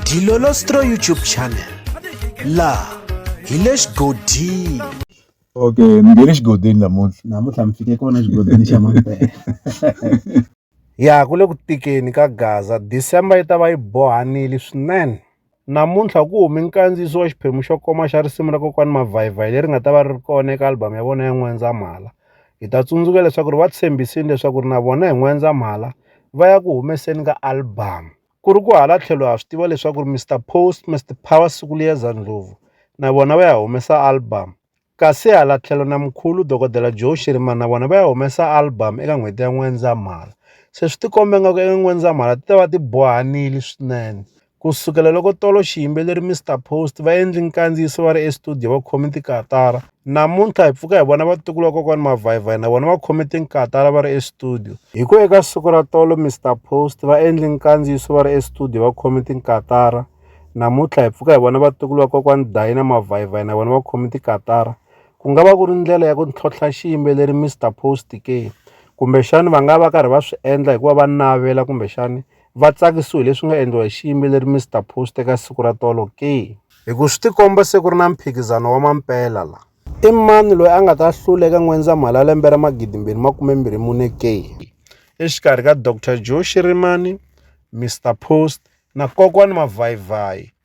Dilolostro YouTube channel laha hi le xigodini okay mi nge le xigodini namuntlha namuntlha mi fike kona xigodini xa mampela ya ku le ku tikeni ka gaza december yi ta va yi bohanile swinene namuntlha ku humi nkandziyiso wa xiphemu xo koma xa risimu ra kokwani mavhayivhayi leri nga ta va ri ri kona eka album ya vona ya n'wendzamhala Hi ta tsundzuka leswaku ri va tshembisini leswaku ri na vona hi N'wendzamhala va ya ku humeseni ka albhamu. Ku ri ku hala tlhelo ha swi tiva leswaku ri Mister Post, Mister Power Sikuliyeza Ndlovu na vona va ya humesa albhamu, kasi hala tlhelo na Mkhulu Dokodela Joe Shirimani na vona va ya humesa albhamu eka n'hweti ya N'wendzamhala. Se swi tikomba ingaku eka N'wendzamhala ti ta va ti bohanile swinene Ku sukela loko tolo xiyimbeleri Mister Post va endli nkandziyiso va ri estudiyo va khome tikatara, namuntlha hi pfuka hi vona vatukulu va kokwani Mavhayivhayi na vona va khome tinkatara va ri estudiyo. Hi ku eka siku ra tolo Mister Post va endli nkandziyiso va ri estudiyo va khome tinkatara, namuntlha hi pfuka hi vona vatukulu va kokwani Dayi na Mavhayivhayi na vona va khome tikatara. Ku nga va ku ri ndlela ya ku ntlhontlha xiyimbeleri Mister Post ke? Kumbexani va nga va karhi va swi endla hikuva va navela kumbexani va tsakisiwe hi leswi nga endliwa hi xiyimbeleri Mister Post eka siku ra tolo ke hi ku swi tikomba se ku ri na mphikizano wa mampela la i mani loyi a nga ta hlula eka n'wendzamhala ya lembe ra magidimbirhi makumembirhi mune ke exikarhi ka dr joe shirimani Mister Post na kokwani mavhayivhayi